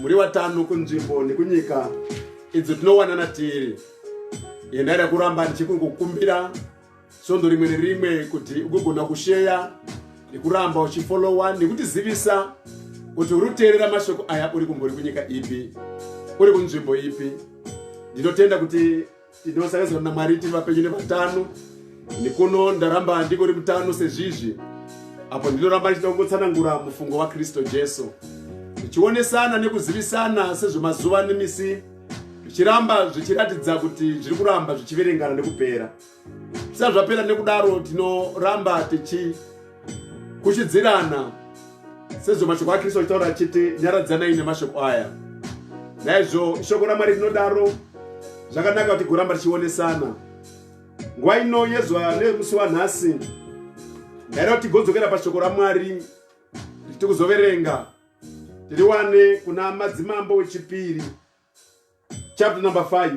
muri vatano kunzvimbo nekunyika idzo tinowanana tiri yendai rakuramba ndichikungokumbira svondo rimwe nerimwe kuti ugogona kusheya nekuramba uchifolowa nekutizivisa kuti uri kuteerera mashoko aya uri kumbori kunyika ipi uri kunzvimbo ipi ndinotenda kuti tinosakazana namwari tiri vapenyu nevatano nekuno ndaramba ndiko ri mutano sezvizvi apo ndinoramba ndichida kungotsanangura mufungo wakristu jesu zvichionesana nekuzivisana sezvemazuva nemisi zvichiramba zvichiratidza kuti zviri kuramba zvichiverengana nekupera zvisati zvapera nekudaro tinoramba tichi kuchidzirana sezvo mashoko akristu achitaura achiti nyaradzanai nemashoko aya naizvo shoko ramwari rinodaro zvakanaka kuti goramba richionesana nguva ino yezuva nemusi wanhasi ndaida kuti tigodzokera pashoko ramwari tiri kuzoverenga tiriwane kuna madzimambo wechipiri chapter number 5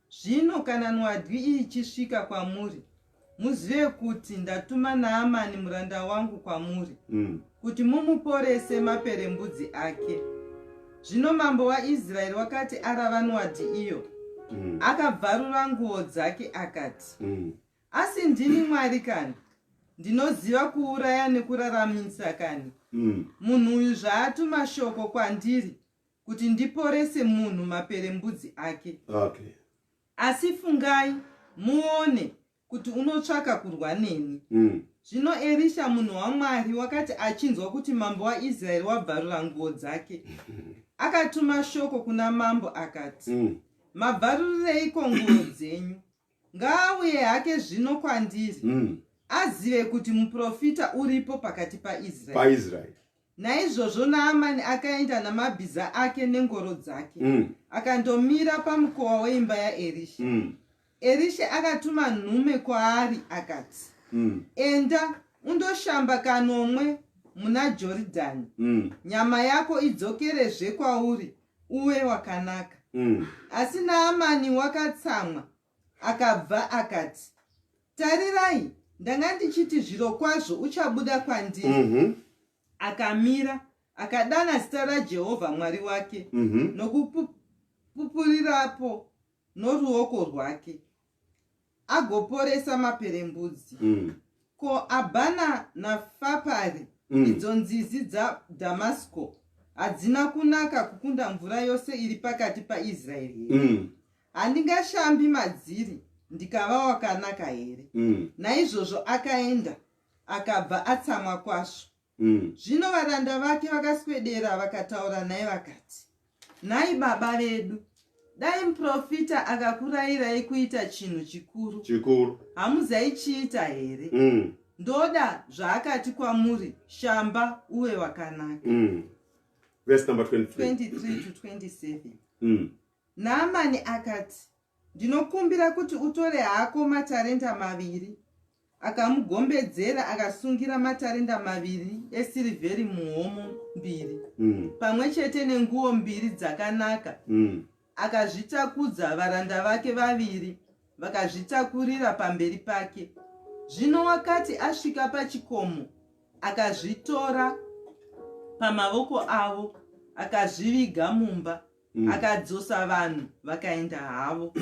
Zvino kana nwadyi iyi ichisvika kwamuri, muzive kuti ndatuma Naamani muranda wangu kwamuri, mm. kuti mumuporese maperembudzi ake. Zvino mambo waIsraeri wakati arava nwadyi iyo, mm. akabvarura nguo dzake akati, mm. Asi ndini Mwari kani? Ndinoziva kuuraya nekuraramisa kani? Mm. Munhu uyu zvaatuma shoko kwandiri, kuti ndiporese munhu maperembudzi ake okay. asi fungai muone kuti unotsvaka kurwa neni mm. zvino mm. erisha munhu wamwari wakati achinzwa kuti mambo waisraeri wabvarura nguo dzake akatuma shoko kuna mambo akati mm. mabvarurireiko nguo dzenyu ngaauye hake zvino kwandiri mm. azive kuti muprofita uripo pakati paisraeri Naizvozvo Naamani akaenda namabhiza ake nengoro dzake mm. akandomira pamukova weimba yaErisha mm. Erisha akatuma nhume kwaari akati mm. Enda undoshamba kanomwe muna Joridhani mm. nyama yako idzokerezve kwauri uwe wakanaka mm. Asi Naamani wakatsamwa Akabva akati, Tarirai, ndanga ndichiti zvirokwazvo uchabuda kwandiri. Mm -hmm. Akamira, akadana zita raJehovha Mwari wake mm -hmm. nokupupurirapo noruoko rwake, agoporesa maperembudzi. Mm. Ko Abhana naFapari, mm. idzo nzizi dzaDhamasko, hadzina kunaka kukunda mvura yose iri pakati paIsraeri here? Mm. handingashambi madziri ndikava wakanaka here mm. naizvozvo akaenda akabva atsamwa kwazvo mm. zvino varanda vake vakaswedera vakataura naye vakati nhai baba vedu dai muprofita akakurayirai kuita chinhu chikuru chikuru hamuzaichiita here mm. ndoda zvaakati kwamuri shamba uve wakanaka mm. verse number 23, 23 to 27 mm. Naamani akati, Ndinokumbira kuti utore hako matarenda maviri. Akamugombedzera akasungira matarenda maviri esirivheri muhomo mbiri, mm. pamwe chete nenguo mbiri dzakanaka. Mm. Akazvitakudza varanda vake vaviri, vakazvitakurira pamberi pake. Zvino wakati asvika pachikomo, akazvitora pamavoko avo, akazviviga mumba. mm. akadzosa vanhu vakaenda havo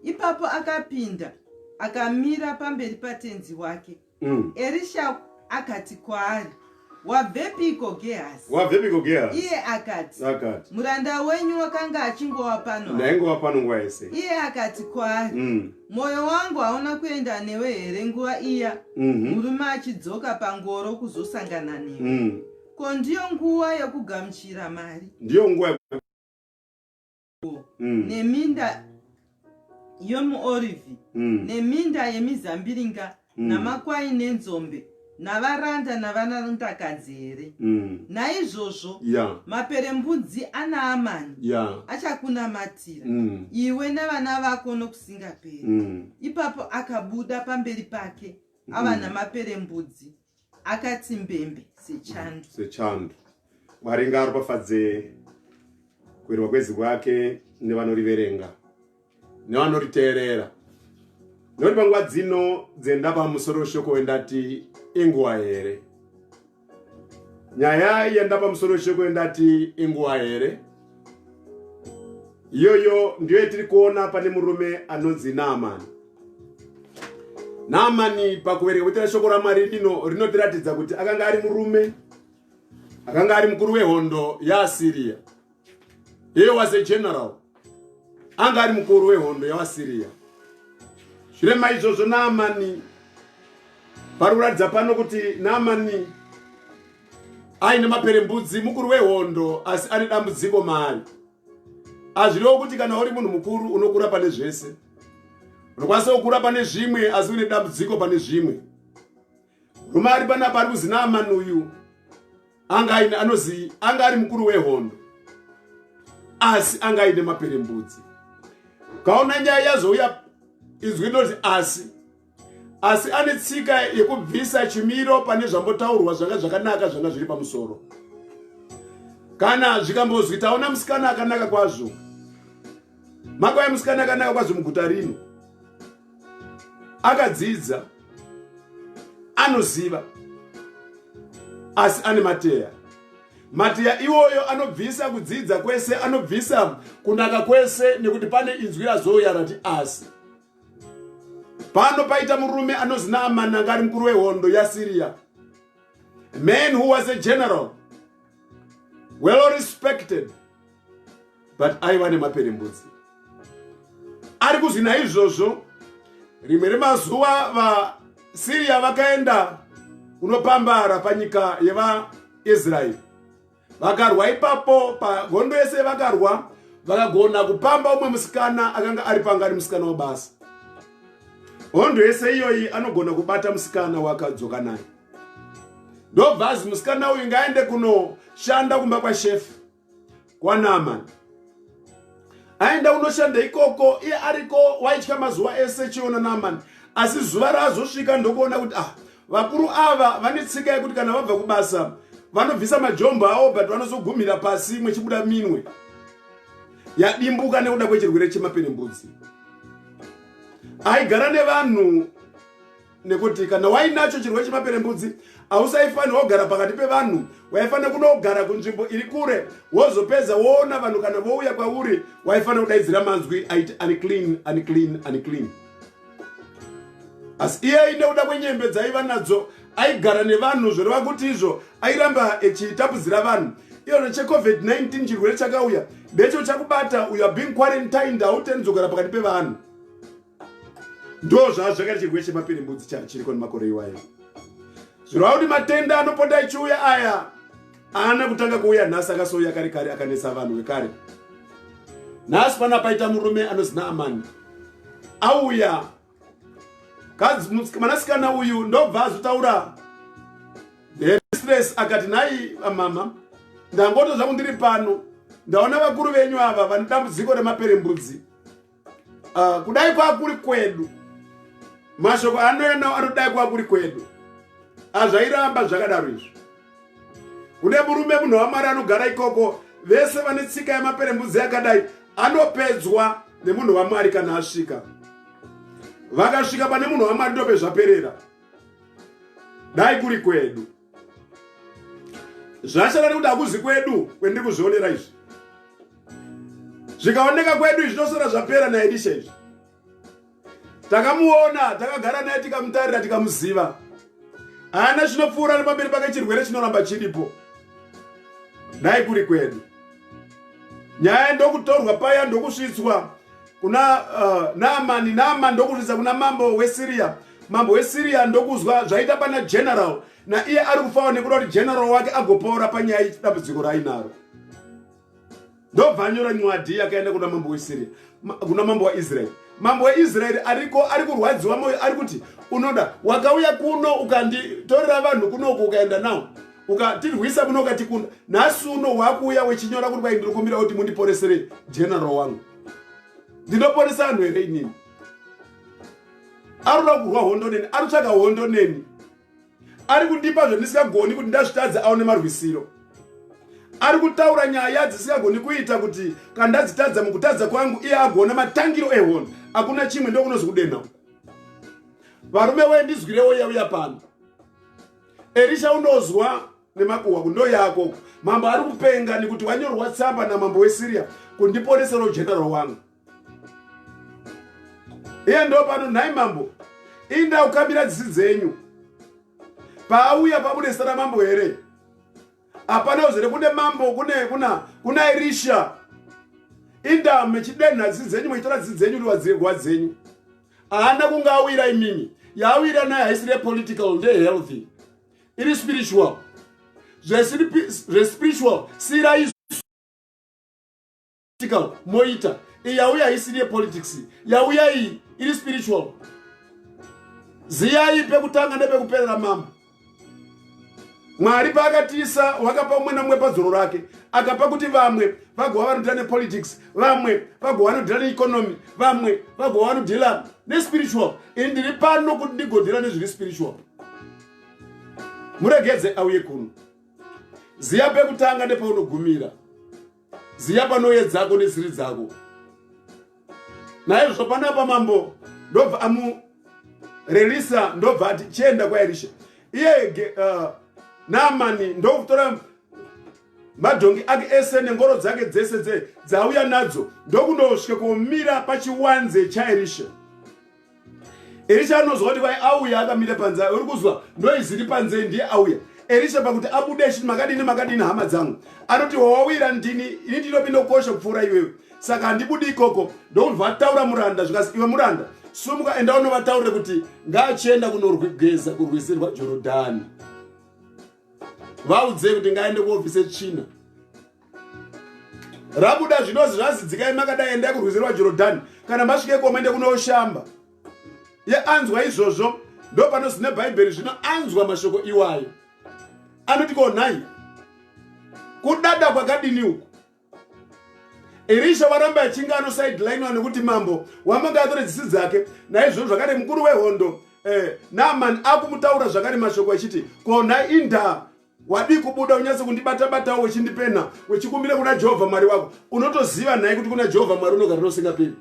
ipapo akapinda akamira pamberi patenzi wake mm. erisha akati kwaari wabvepiko gehazi wabvepiko gehazi iye akati akati muranda wenyu wakanga achingova pano ndaingova pano nguva yese iye akati kwaari mm. mwoyo mm. wangu hauna kuenda newe here nguva iya mm -hmm. murume achidzoka pangoro kuzosangana newe mm. Ko ndiyo nguva yokugamuchira mari. Ndiyo nguva yokugamuchira mm. neminda yomuorivhi mm. neminda yemizambiringa mm. namakwai nenzombe navaranda navanarundakadzi here mm. naizvozvo yeah. maperembudzi anaamani yeah. achakunamatira mm. iwe nevana vako nokusingaperi mm. ipapo akabuda pamberi pake ava mm. namaperembudzi akati mbembe sechandu sechandu mwari ngaaropafadze kuerwa kwezi kwake nevanoriverenga nevanoriteerera nekuti panguva dzino dzenda pamusoro weshoko wendati inguva here nyaya yenda pamusoro weshoko wendati inguva here iyoyo ndiyo yatiri kuona pane murume anonzi naamani naamani pakuverenga kuitira shoko ramwari rino rinotiratidza kuti akanga ari murume akanga ari mukuru wehondo yaasiriya he was a general anga ari mukuru wehondo yaasiriya zvire maizvozvo naamani pari kuratidza pano kuti naamani aine maperembudzi mukuru wehondo asi ane dambudziko maari hazvirewo kuti kana uri munhu mukuru unokura pane zvese unokwanisa kukura pane zvimwe asi une dambudziko pane zvimwe rume ari panapa ari kuzinamani uyu anga aine anozi anga ari mukuru wehondo asi anga aine maperembudzi kaona nyaya yazouya izwi rinoti asi asi ane tsika yekubvisa chimiro pane zvambotaurwa zvanga zvakanaka zvanga zviri pamusoro kana zvikambozwi taona musikana akanaka kwazvo makwai musikana akanaka kwazvo muguta rino akadzidza anoziva asi ane mateya mateya iwoyo anobvisa kudzidza kwese anobvisa kunaka kwese nekuti pane inzwi razouya rati asi pano paita murume anonzi naamani anga ari mukuru wehondo yasiriya man who was a general well respected but aiva nemaperembudzi ari kuzwi naizvozvo rimwe remazuva vasiriya vakaenda kunopambara panyika yevaisraeri vakarwa ipapo pahondo yese vakarwa vakagona kupamba umwe musikana akanga ari pangari musikana wabasa hondo yese iyoyi anogona kubata musikana wakadzoka naye ndobvazi musikana uyu ngaende kunoshanda kumba kwashefu kwanamani aenda unoshanda ikoko iye ariko waitya mazuva ese chiona namani asi zuva raazosvika ndokuona kuti ah vakuru ava vane tsika yekuti kana vabva kubasa vanobvisa majombo awo but vanozogumira pasi imwe chibuda minwe yadimbuka nekuda kwechirwere chemaperembudzi aigara nevanhu nekuti kana wainacho chirwere chemaperembudzi hausaifanira wogara pakati pevanhu waifanira kunogara kunzvimbo iri kure wozopedza woona vanhu kana vouya kwauri waifanira kudaidzira manzwi aiti unclean unclean unclean asi iye nekuda kwenyembe dzaiva nadzo aigara nevanhu zvoreva kuti izvo airamba echitapudzira vanhu iyona checovid-19 chirwere chakauya ndecho chakubata uyo being quarantined hautendizogara pakati pevanhu ndo zvaa zvakati chirwere chemapiri mbudzi chari chiriko nemakore iwayo zvirova kuti matenda anopota achiuya aya aana kutanga kuuya nhasi akasouya kare kare akanetsa vanhu vekare nhasi pana paita murume anozina amani auya mwanasikana uyu ndobva azotaura hestress akati nhai amama ndangoto zvangu ndiri pano ndaona vakuru venyu ava vane dambudziko remaperembudzi uh, kudai kwakuri kwedu mashoko anouya nawo anodai kwakuri kwedu azvairamba zvakadaro izvo kune murume munhu wamwari anogara ikoko vese vane tsika yemaperembudzi yakadai anopedzwa nemunhu wamwari kana asvika vakasvika pane munhu wamwari ndopezvaperera dai kuri kwedu zvashata nekuti hakuzi kwedu kwendiri kuzvionera izvi zvikaoneka kwedu izvi zvinosora zvapera naelisha izvi takamuona takagara naye tikamutarira tikamuziva haana chinopfuura nepamberi pake chirwere chinoramba chiripo dai kuri kwedu nyaya ndokutorwa paya ndokusvitswa kuna uh, naamani naamani ndokuridza kuna mambo wesiriya mambo wesiriya ndokuzwa zvaita pana general naiye ari kufawa nekuda kuti general wake agopoora panyaya yedambudziko raainaro ndobva anyora nywadhi yakaenda kuna mambo wesiriya kuna mambo waisraeri mambo weisraeri ariko ari kurwadziwa moyo ari kuti unoda wakauya kuno ukanditorera vanhu kunoku ukaenda nawo ukatirwisa muno ukatikunda nhasi uno wakuuya wechinyora kuti kwaindinokumbira kuti mundiporeserei general wangu ndinoponesa vanhu here inini ari kuda kurwa hondo neni ari kutsvaga hondo neni ari kundipa zvandisingagoni kuti ndazvitadze aone marwisiro ari kutaura nyaya dzisingagoni kuita kuti kana ndadzitadza mukutadza kwangu iye agona matangiro ehondo hakuna chimwe ndokunozokudenha varume wee ndizwirewo yauya pano erisha unozwa nemakuhwa kundo yako mambo ari kupenga nekuti wanyorwa tsamba namambo wesiria kundiponesera ugeneral wangu iye ndo pano nhai mambo inda ukambira dzisi dzenyu paauya pabudesa ramambo here hapana uzere kune mambo kune kuna kuna irisha inda mechidenha dzisi dzenyu meitora dzisi dzenyu liwadzirwa dzenyu haana kunga awira imimi yaawira naye haisire political ndehealthy iri spiritual zvespiritual siiraizvo moita iyi yauya isiri yepolitics yauya iyi iri spiritual ziyai pekutanga nepekuperera mambo mwari paakatiisa wakapa umwe namumwe padzoro rake akapa kuti vamwe vagova vanoita nepolitics vamwe vagova vanodhila neeconomy vamwe vagova vanodhila nespiritual ini ndiri pano kuti ndigodhila nezviri spiritual muregedze auye kuno ziya pekutanga nepaunogumira ziya panoye dzako nesiri dzako naizvozvo panapa mambo ndobva amurerisa ndobva ati chienda kwaerisha iye uh, namani ndokutora madhongi ake ese nengoro dzake dzese dze dzauya nadzo ndokunosvika kumira pachiwanze chaerisha erisha anonzwa kuti vai auya akamira panze uri kuzwa noizi ri panze ndiye auya erisha pakuti abude achiti makadini makadini hama dzangu anoti wawawira ndini ini ndinopindokosha kupfuura iwewe saka handibudi ikoko ndokunzwa ataura muranda zvikas iwe muranda sumuka enda unovataurire kuti ngaachienda kunorwigeza kurwizi rwajorodhani vaudzei kuti ngaende kuobvise tsvina rabuda zvinozi zvazidzikai makadai endai kurwizirwa jorodhani kana masvike iko maende kunoshamba ye anzwa izvozvo ndo panozi nebhaibheri zvino anzwa mashoko iwayo anoti ko nhai kudada kwakadini uku erisha waramba achinge anosidelinwa nekuti mambo wamanga atore dzisi dzake naizvozvo zvakare mukuru wehondo eh, naamani akumutaura zvakare mashoko achiti kona indaa wadii kubuda unyatse kundibatabatawo wechindipena wechikumbira kuna jehovha mwari wako unotoziva nhai kuti kuna jehovha mwari unogara nosingaperi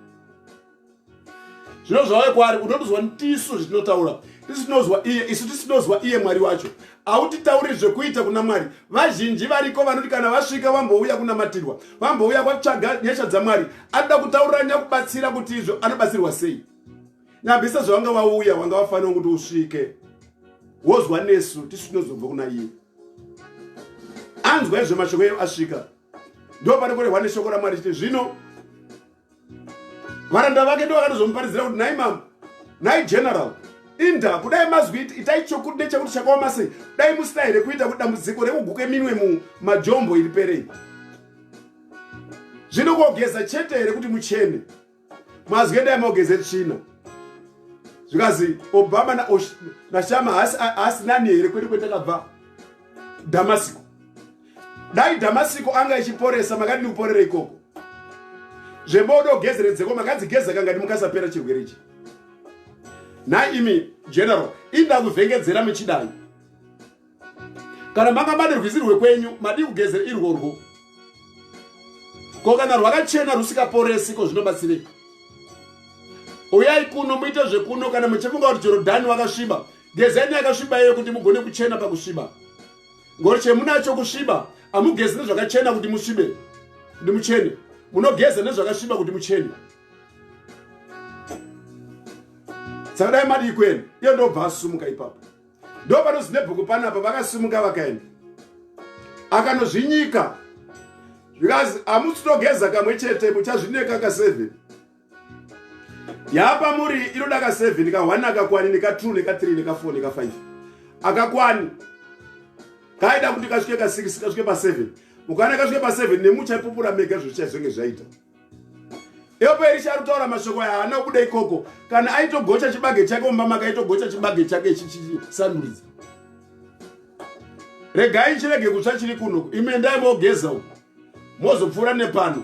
zvino zvauya kwaari unotozwa tisu zvetinotaura tisu tinozwa iye isu tisu tinozwa iye mwari wacho autitauri zvekuita kuna mwari vazhinji variko vanoti kana vasvika vambouya kunamatirwa vambouya kwatsvaga nyasha dzamwari anoda kutaurira nyakubatsira kuti izvo anobatsirwa sei nyambisa zvavanga vauya vanga vafanira kuti usvike wozwa nesu tisu tinozobva kuna iye anzwa izvo mashoko eyo asvika ndo pari kurehwa neshoko ramwari chiti zvino varanda vake ndo vakatozomuparidzira kuti nhai mambo nhai general inda kudai mazwi itai chokuti nechakuti chakaoma sei dai musina here kuita kuti dambudziko rekuguke minwe mumajombo iri perei zvino kogeza chete here kuti muchene mazwi endai mogeze tsvina zvikazi obama nashama haasi nani here kwete kwetakabva damasiko dai dhamasiko anga ichiporesa makadini kuporera ikoko zvebodo gezeredzeko makadzigeza kanga ndimukasapera chirwere ichi nhai imi general inda kuvhengedzera muchidai kana manga mane rwizi rwekwenyu madii kugezera irworwo ko kana rwakachena rusikaporesi ko zvinobatsirei uyai kuno muite zvekuno kana muchifunga kuti jorodhani wakasviba gezeni yakasviba iyo kuti mugone kuchena pakusviba ngori chemunacho kusviba amugezi nezvakachena kuti musvibe kuti muchene munogeza nezvakasviba kuti muchene saka dai madii kuenda iyo ndobva asumuka ipapo ndo panozinebhuku panapa vakasumuka vakaenda akanozvinyika zvikazi amusitogeza kamwe chete muchazvineka kaseven yapa muri inoda ka 7 ka 1 akakwani neka 2 neka 3 neka 4 neka 5 akakwani kaida kuti kasvike ka 6 kasvike pa 7 mukana kasvike pa 7 nemuchaipupura mega zvichazenge zvaita yopo erisha rutaura mashoko yaana kuda ikoko kana aitogocha chibage chake mumba maka aitogocha chibage chake chichisanduridza regai chirege kutsva chiri kuno ime ndai mogeza uku mozopfuura nepano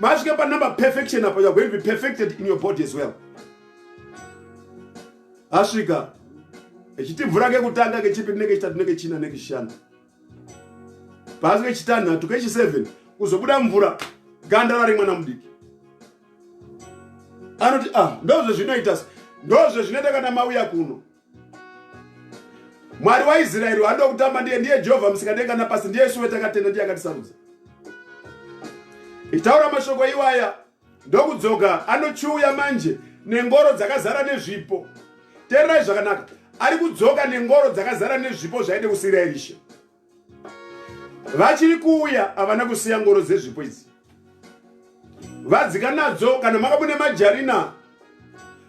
masvika panumber perfection apa you're going to be perfected in your body as well asvika echiti mvura kekutanga kechipiri nekechitatu nekechina nekechishanu pasi kechitanhatu kechi7 kuzobuda mvura ganda rari mwana mudiki anoti ah ndozvezvinoita ndozvezvinoita kana mauya kuno mwari waisraeri waanoda kutamba ndiye ndiye jehovha musikadenga napasi ndiye isu wetakatenda ndiye akatisarudza ichitaura mashoko iwaya ndokudzoka anochiuya manje nengoro dzakazara nezvipo teererai zvakanaka ari kudzoka nengoro dzakazara nezvipo zvaide kusiira erisha vachiri kuuya havana kusiya ngoro dzezvipo idzi vadzika nadzo kana maka mune majarina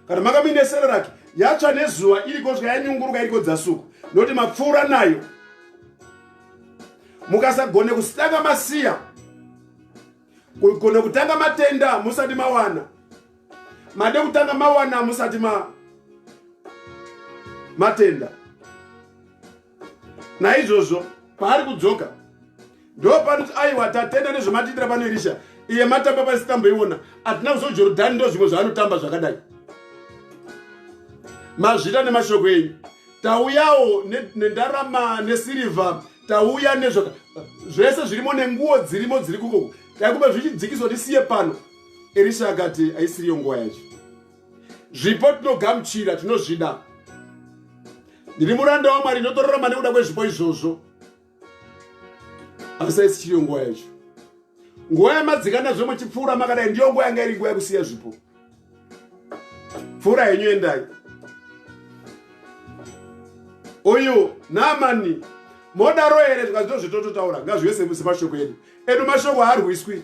kana maka muine sereraki yatsva nezuva iriko svika yanyunguruka iriko dzasuku nokuti mapfuura nayo mukasagone kusitanga masiya kugona kutanga matenda musati mawana made kutanga mawana musati ma matenda naizvozvo paari kudzoka ndopanoti aiwa tatenda nezvamatiitira pano erisha iye matamba pasi tamboiona hatina kuzojorodhani ndo zvimwe zvaanotamba zvakadai mazvita nemashoko enyu tauyawo nendarama nesirivha tauya nezvaka zvese zvirimo nenguwo dzirimo dziri kukoko taikuba zvichidzikiswa tisiye pano erisha akati aisiriyo nguva yacho zvipo tinogamuchira tinozvida ndiri muranda wamwari ndinotorarama nekuda kwezvipo izvozvo asi aisi chiriyo nguva yacho nguva yamadzikana zve muchipfuura makadai ndiyo nguva yanga iri nguva yekusiya zvipo pfuura henyu endai uyu namani modaro here zvikazito zvitototaura ngazvive semashoko edu edu mashoko haarwiswi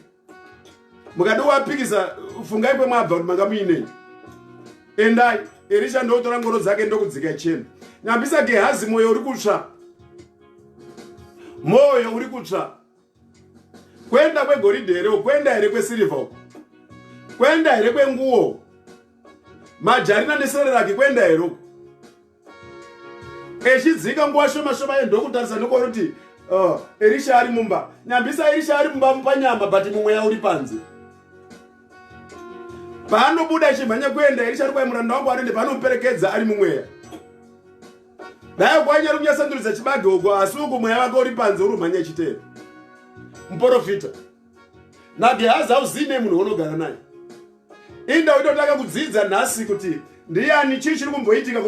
mukadi wapikisa fungai kwemwabva kuti manga muinei endai erisha ndokutora ngoro dzake ndokudzika chena nyambisa gehazi mwoyo uri kutsva mwoyo uri kutsva kwenda kwegoridhe here kwenda here kwesirivha uko kwenda here kwenguwo majarina nesereraki kwenda here uko echidzika nguva shoma shoma ye ndokutarisa nokori kuti oh, erisha ari mumba nyambisa erisha ari mumba mupanyama but mumweya uri panze paanobuda achimhanya kuenda erisha ari kwaimuranda wangu anoende paanomuperekedza ari mumweya dai kwanyari kunyasandurisa chibage uko asi uku mweya vake uri panze uri umhanya chitero muporofita nagehazi hauzii nei munhu wonogara naye inda waitotanga kudzidza nhasi kuti ndiyani chii chiri kumboitika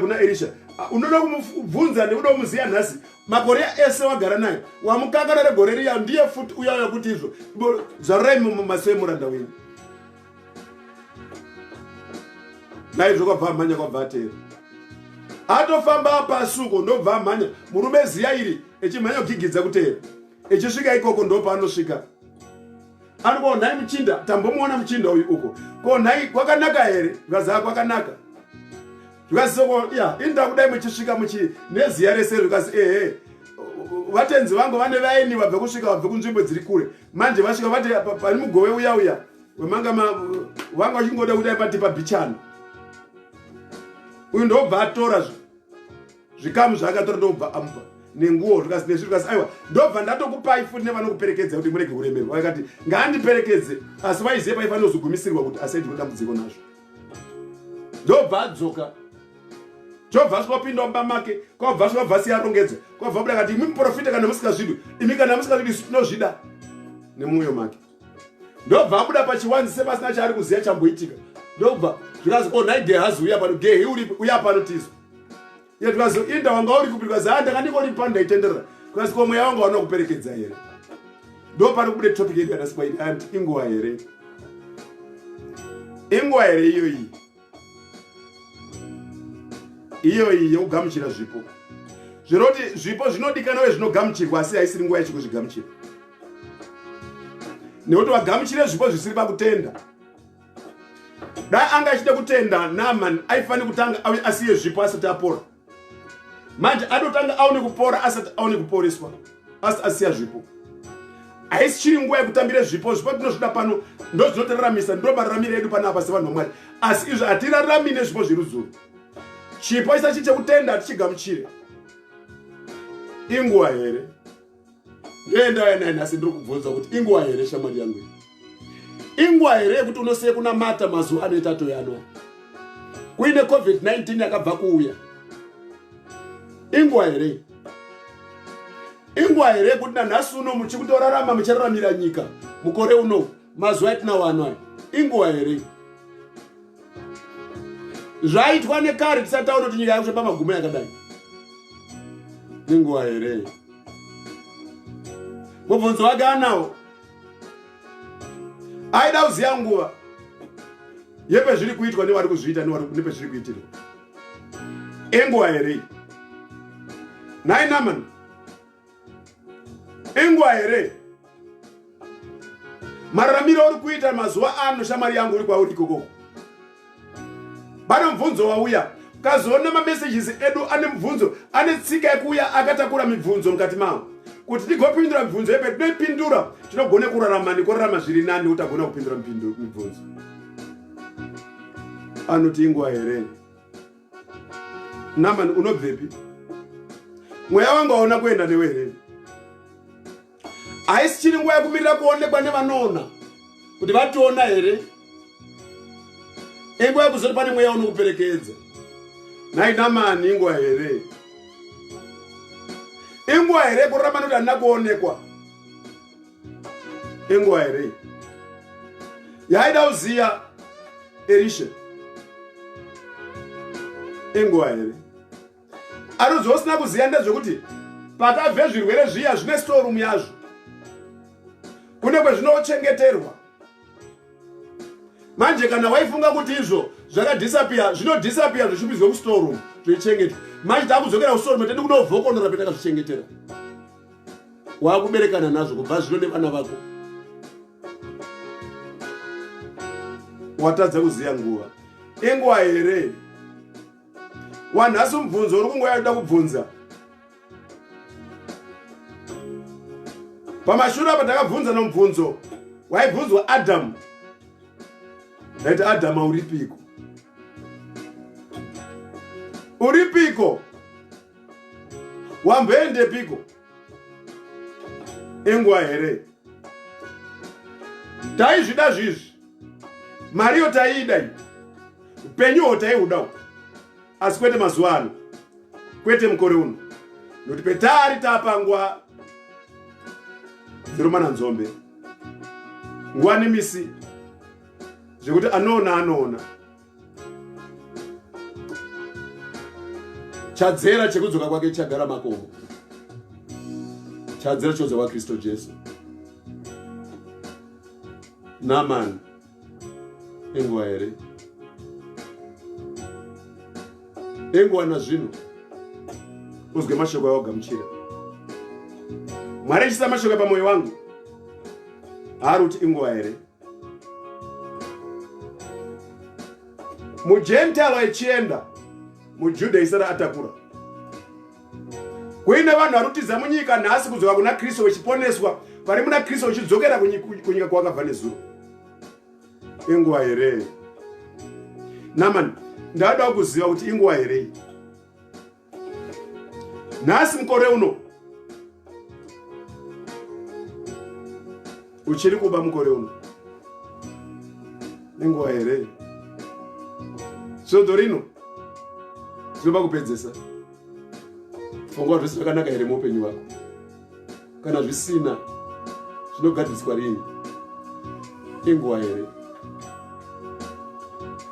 kuna erisha ah, unoda kumubvunza nekuda kumuziva nhasi makore ese wagara naye wamukakana regore riya ndiye futi uya uya kuti izvo zvarurai mumaso emuranda wenyu naizvo kwabva amhanya kwabva ateera atofamba pasuko ndobva amhanya murume ziya iri echimhanya kugigidza kuteera echisvika ikoko ndopaanosvika ari ko nhai muchinda tambomuona muchinda uyu uko ko nhai kwakanaka here zvikazaa kwakanaka zvikazisoko ya ini ndakudai muchisvika muchi neziya rese zvikazi ehe vatenzi vangu vane vaini vabve kusvika vabve kunzvimbo dziri kure manje vasvika vati pani mugove uya uya wemanga vanga vachingoda kudai pati pabichana uyu ndobva atora zvo zvikamu zvaakatora ndokubva amupa nenguwo zvikasi nezvi zvikasi aiwa ndobva ndatokupai futi nevanokuperekedza kuti murege kuremerwa vakati ngaandiperekedze asi vaiziva paiva nozogumisirwa kuti asaiti kudambudziko nazvo ndobva adzoka chobva asvika opinda mumba make kwabva asvika bva siyarongedza kwabva buda kati imi muprofita kana musingazvidwi imi kana musingazvidwi tinozvida nemwoyo make ndobva abuda pachiwanzi sepasina chaari kuziva chamboitika ndobva zvikazi o oh, nhai gehazi uya pano gehi uripi uya pano tizo ye zvikazi inda wanga uri kupi zvikazi ha ah, ndanga ndingori pano ndaitenderera zvikazi ko mweya wanga wanokuperekedza here ndo pari kubude topic yedu yanaswaiti anti inguva here inguva here iyoyi iyoyi yekugamuchira zvipo zvinoti zvipo zvinodikana uye zvinogamuchirwa asi haisiri nguva yechikuzvigamuchira nekuti vagamuchire zvipo zvisiri pakutenda dai anga achida kutenda naman aifanira kutanga asiye zvipo asati apora manje anotanga aone kupora asati aone kuporeswa asi asiya zvipo haisi chiri nguva yekutambira zvipo zvipo tinozvida pano ndozvinotiraramisa ndo mararamiro edu pano apa sevanhu vamwari asi izvo hatirarami nezvipo zverudzuro chipo isachi chekutenda hatichigamuchire inguva here ndoendauya naye nhasi ndiri kubvunza kuti inguva here shamwari yangu inguva here yekuti unosiye kunamata mazuva anoita toyanwa kuine covid-19 yakabva kuuya inguva here inguva here yekuti nanhasi uno muchikutorarama muchararamira nyika mukore uno mazuva atinawo anwaya inguva here zvaitwa nekare tisataura kuti nyika yakusve pamagumo yakadai nenguva here mubvunzo wake anawo aida kuziva nguva yepezviri kuitwa nevari kuzviita nepezviri kuitirwa enguva here nhai namani Ingwa here? Mararamiro uri kuita mazuva ano shamwari yangu uri kwauri ikoko. Pane mubvunzo wauya. Ukazoona mamessages edu ane mubvunzo, ane tsika yekuuya akatakura mibvunzo mukati mawo. Kuti tigopindura mibvunzo yepe tinoipindura, tinogona kurarama nekurarama zviri nani utagona kupindura mibvunzo. Anoti ingwa here? Naman unobvepi? Mweya wangu aona kuenda newe here? Haisi chiri nguva yekumirira kuonekwa nevanoona kuti vationa here? Inguva yekuzoti pane mweya unokuperekedza. Nhai Naman inguva here? Inguva here kuramba nekuti handina kuonekwa? enguva here yaida kuziva elisha enguva here aruzva usina kuziva ndezvekuti pakabve zvirwere zviya zvine storum yazvo kune kwezvinochengeterwa manje kana waifunga kuti izvo zvakadhisapiya zvinodhisapiya zvichipizwe kustorum zveichengetwa manje takudzokera kustorum tedi kunovhokonora petakazvichengetera wakuberekana nazvo kubva zvino nevana vako watadza kuziva nguva inguva here wanhasi mubvunzo uri kunguva yakuda kubvunza pamashure apa takabvunza nomubvunzo waibvunzwa adamu ndaiti adamu auripiko uripiko wamboendepiko enguva here taizvida zvizvi mariyo taiida i upenyuwo taiudawo asi kwete mazuva ano kwete mukore uno nokuti petari tapangwa dziromana nzombe nguva nemisi zvekuti anoona anoona chadzera chekudzoka kwake chagara makomo chadzera chodzoka kwakristu jesu namani enguva here enguva nazvino uzwe mashoko aogamuchira mwari achisa mashoko pamwoyo wangu haari kuti inguva here mugentile achienda mujuda isara atakura kuine vanhu vari kutiza munyika nhasi kudzoka kuna kristu vachiponeswa vari muna kristu vachidzokera kunyika kwavakabva nezuro inguva here namani ndadawo kuziva kuti inguva here nhasi mukore uno uchiri kuba mukore uno nenguva here svondo rino zvinoba kupedzesa pfungwa zvese zvakanaka here muupenyu wako kana zvisina zvinogadziriswa rini inguva here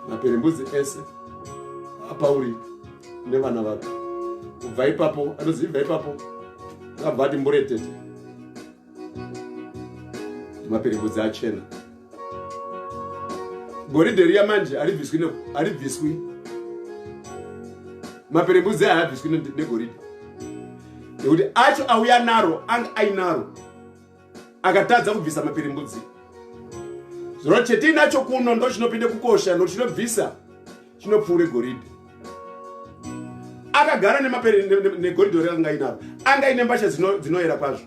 maperembudzi ese apauri nevana vake kubva ipapo anozivibva ipapo akabva ati mburetete maperembudzi achena goridhe riya manje haribviswi haribviswi maperembudzi aya habviswi negoridhe nekuti acho auya naro anga ainaro akatadza kubvisa maperembudzi zvino chetiinacho kuno ndo chinopinda kukosha nokuti chinobvisa chinopfuure goridhe akagara negoridhe ore anga ainaro anga aine mbasha dzinoyera kwazvo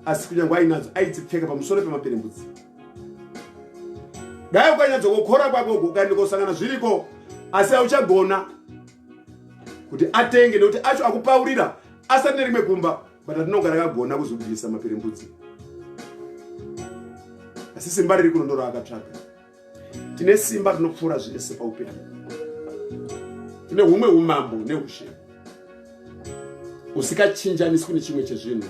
asi kunyange ainadzo aitsipfeka pamusoro pemaperembudzi dai ukanyatsokokora kwako ukaenda kosangana zviriko asi auchagona kuti atenge nekuti acho akupaurira asati nerimwe kumba but atinogara akagona kuzobvisa maperembudzi asi simba riri kuno ndoro akatsvaga tine simba rinopfuura zvese paupenyu tine humwe umambo neushe usikachinjaniswi nechimwe chezvinhu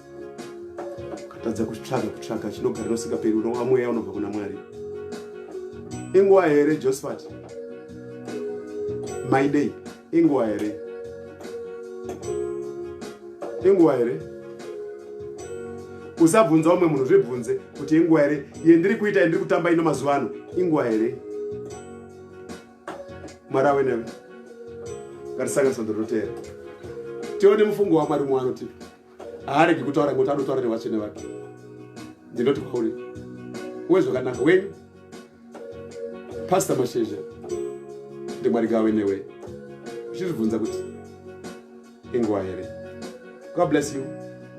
katadza kutsvaga kutsvaga chinogara nosingaperi unova mweya unobva kuna mwari inguva here josephat maidei inguva here inguva here usabvunza umwe munhu zvibvunze kuti inguva here yendiri kuita yendiri kutamba ino mazuva ano inguva here mwari awe newe ngatisanganiswa ndoroteera tione mufungo wamwari mwaanotipa haaregi kutaura ngoti anotaura nevatsvene vake ndinoti kwauri uwe zvakanaka wenyu pasta mashizha ndimwari gawe newe uchizvibvunza kuti inguva here god bless you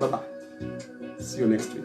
bye bye see you next week